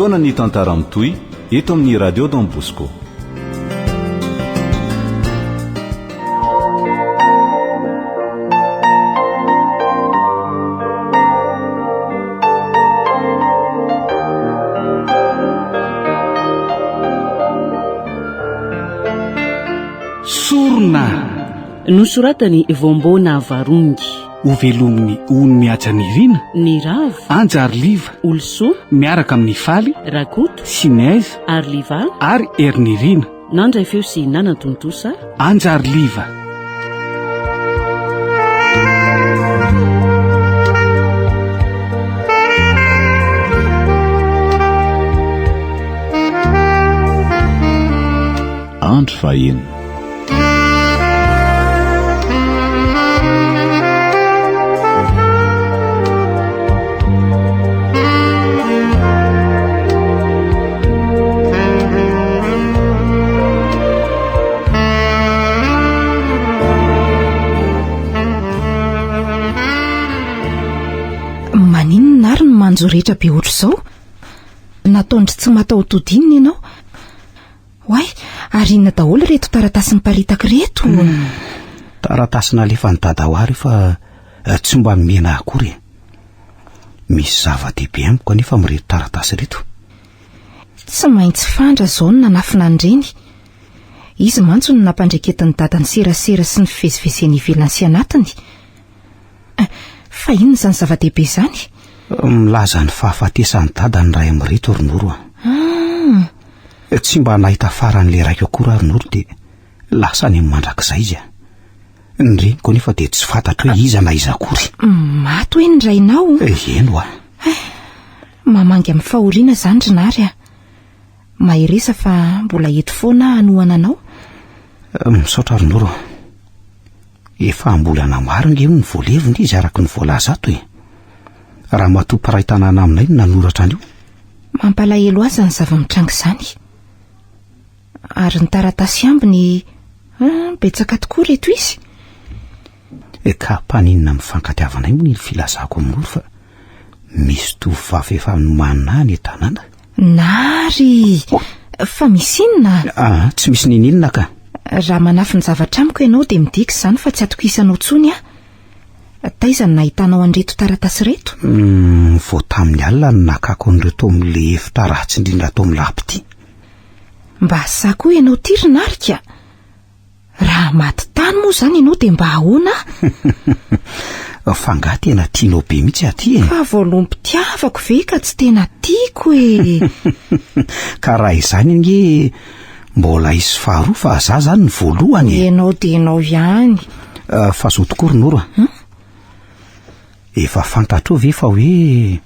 Fotoana ny tantara mitohy eto amin'ny Radio Don Bosco. Sorona nosoratany Vombo Navarongy. Ho velomin'ny ony mihaja Nirina, Nirav, Anja ary Liva, Olosoa, miaraka amin'i Faly, Rakoto, Sinez, ary Liva, ary Hery Nirina. Nandray feo sy nanan-tontosa. Anja ary Liva. Andro fahaenina. manjo rehetra be ohatr'izao nataondry tsy mataho-tody inona ianao Oay, ary inona daholo ireto taratasy miparitaka ireto? Hmm. Taratasy nalefan'i dada ho ary fa eh, tsy mba mihena akory. Eh. Misy zava-dehibe amiko anefa amin'ireto taratasy ireto. Tsy maintsy fandra izao no nanafina an'ireny. Izy mantsy no nampandreketin'ny dadany serasera sy ny fivezivezeny ivelany sy anatiny. Fa inona izany zava-dehibe izany? Milaza ny fahafatesan'i dada ny ray amin'ireto ry Noro a. Ah. Eh, tsy mba nahita faran'ilay raiko akory ary Noro dia lasa any amin'ny mandrakizay izy a. Ny reniko anefa dia tsy fantatro hoe iza na iza akory. Maty hoe ny rainao? Eh, eny hoa. Eh, mamangy amin'ny fahoriana izany ry Nary a. Maheresa fa mbola eto foana hanohana anao. Misaotra ry Noro. Efa am-bolana maro ange hono ny voalevona izy araka ny voalaza ato e. Ramatoa mpiray tanàna aminay no nanoratra an'io. Mampalahelo aza ny zava-mitranga izany. Ary ny taratasy ambiny, ah, betsaka tokoa reto izy. E ka mpaninona mifankatiavanay moa ny filazako amin'olo fa misy tovovavy efa nomanina any tanàna. Nary! Fa misy inona? Ah, tsy misy nininona ka. Raha manafy ny zavatra amiko ianao dia midika izany fa tsy atokisanao intsony aho. Taiza no nahitanao an'ireto taratasy ireto? Hmm, vao tamin'ny alina no nakako an'ireo tao amin'ilay efitra ratsy indrindra ato amin'ny lab ity. Mba asako ianao ity ry Narika. Raha maty tany moa izany ianao dia mba ahoana? Fa angaha tena tianao be mihitsy aty e? Fa voalom-pitiavako ve ka tsy tena tiako e? Ka raha izany ange mbola hisy faharoa fa za zany ny voalohany e? Ianao dia ianao ihany. Ah, fa zo tokoa ry Noro a. Hmm? Efa fantatrao ve fa hoe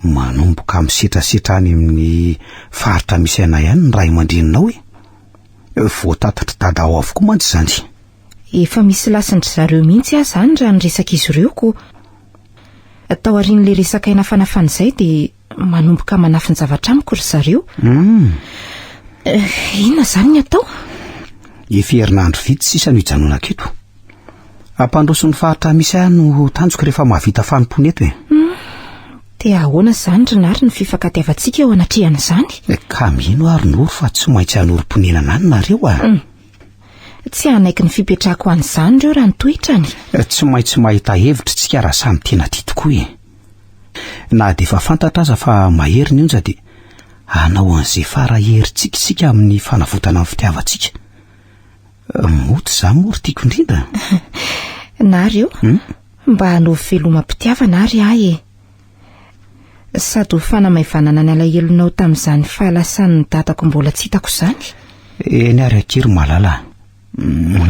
manomboka misetrasetra any amin'ny faritra misy anay any ny ray aman-dreninao e? Voatatatry dada ao avokoa mantsy izany. Efa misy lasin-dry zareo mihitsy aho izany raha ny resak'izy ireo ko. Taorian'ilay resaka aina fanafana izay dia manomboka manafin-javatra amiko ry zareo. Hmm. Eh, inona izany ny atao? Efa herinandro vitsy sisa no hijanonako eto. Hampandroso ny faritra misy ahy no tanjoko rehefa mahavita fanompoana eto e. Hmm. Dia ahoana izany ry Nary ny fifankatiavantsika eo anatrehan'izany? Eh, ka mino aho ry Noro fa tsy maintsy hanorim-ponenana any nareo ah. Hmm. Tsy hanaiky ny fipetrahako an'izany ireo raha nitohitra any. Eh, tsy maintsy mahita hevitra isika raha samy tena tia tokoa e. Na dia efa fantatra aza fa mahery ny onja dia hanao an'izay fara herintsika isika amin'ny fanavotana ny fitiavantsika. Moto za moa ry tiako indrindra Na reo hmm? Mba hanao velomam-pitiavana ary ahy e Sady ho fanamaivanana ny alahelonao tamin'izany fahalasan'ny dadako mbola tsy hitako izany Eny ary akery malala hmm.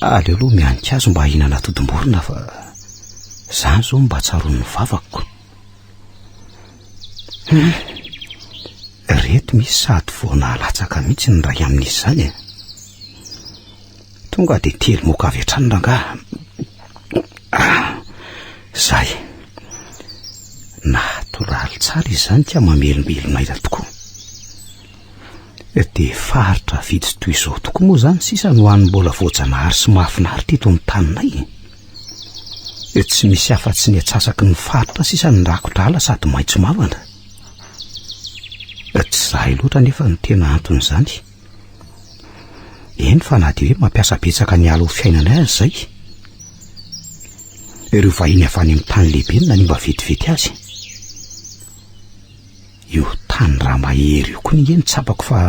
Aleo aloha mianika azy mba hihinana atodim-borona fa izany izao no mba tsaroan'ny vavako. Hum, reto misy sady vao nahalatsaka mihitsy ny iray amin'izy izany e. Tonga dia telo moka avy hatrany rangaha. Ah, izay. Natoraly tsara izany ka mamelombelona aina tokoa. Dia faritra vitsy toy izao tokoa moa izany sisa no any mbola voajanahary sy mahafinaritra eto amin'ny taninay. Tsy misy afa-tsy ny atsasaky ny faritra sisa ny rakodrala sady maitso mavana. Tsy zahay loatra anefa no tena anton'izany. Eny fa na dia hoe mampiasa betsaka ny ala ho fiainanay aza izay. Ireo vahiny avy any amin'ny tany lehibe no nanimba vetivety azy. Io tany ra mahery io koa nge no tsapako fa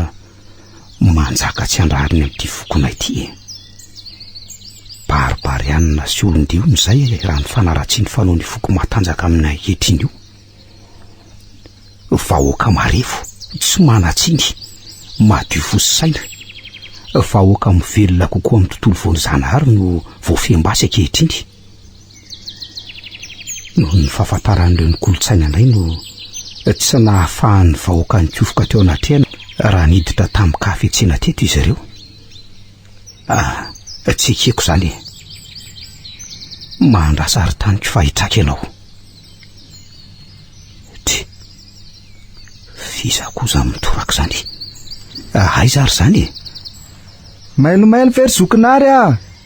manjaka tsy andrariny amty fokonay ty e! Barbarianina sy olondiona izay raha ny fanaratsiany fanaony foko matanjaka aminy ankehitriny io! Vahoaka marefo, tsy manatsiny, madio fo sy saina, vahoaka mivelona kokoa amty tontolo voanjanahary no voafehim-basy ankehitriny! Noho ny fahafantaran'ireo ny kolontsaina indray no tsy nahafahan'ny vahoaka nikofoka teo anatrehana raha niditra tamin-kahafetsena teto izy ireo. Ah, tsy ekeko izany e. Mahandrasa ary taniko fa hitraka ianao. Tsy. Fiza koa izany mitoraka izany. Ah, aiza ary izany e? Mailomailo ve ry zokinary ah?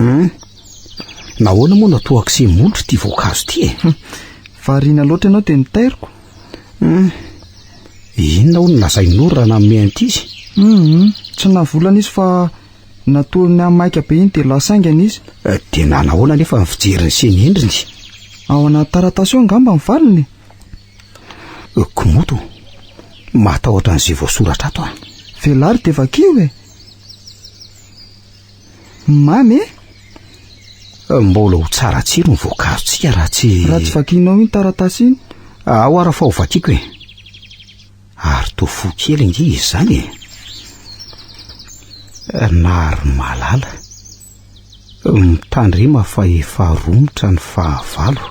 Hum. Nahoana moa no toa kse molotra ity voankazo ity e? Hum. Variana loatra ianao dia mitairiko. Hum. Inona hono lazain'Noro raha nanome an'ity izy? Hum. Tsy navolana izy fa natolony ny maika be iny dia lasa haingana izy. Eh, dia nanahoana anefa ny fijery ny semi-endriny? Ao anaty taratasy ao angamba ny valiny e. Komodo, matahotra an'izay voasoratra ato aho. Velary dia vakio e. Mamy e. Mbola ho tsara tsiro ny voankazotsika raha tsy... Raha tsy vakinao iny taratasy iny. Ao ara fa ho vakiko e. Ary toa fo kely ange izy izany e. Nary malala. Mitandrema fa efa romotra ny fahavalo.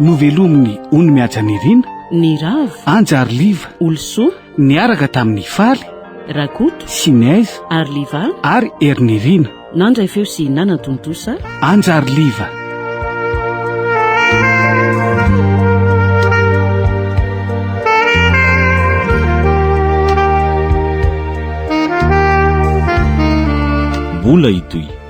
Novelomin'i Ony Mihaja Nirina, Ny Rava, Anja ary Liva, Olosoa, niaraka tamin'i Faly, Rakoto, Sinez, ary Liva, ary Hery Nirina. Nandray feo sy nanatontosa. Anja ary Liva. Mbola hitohy.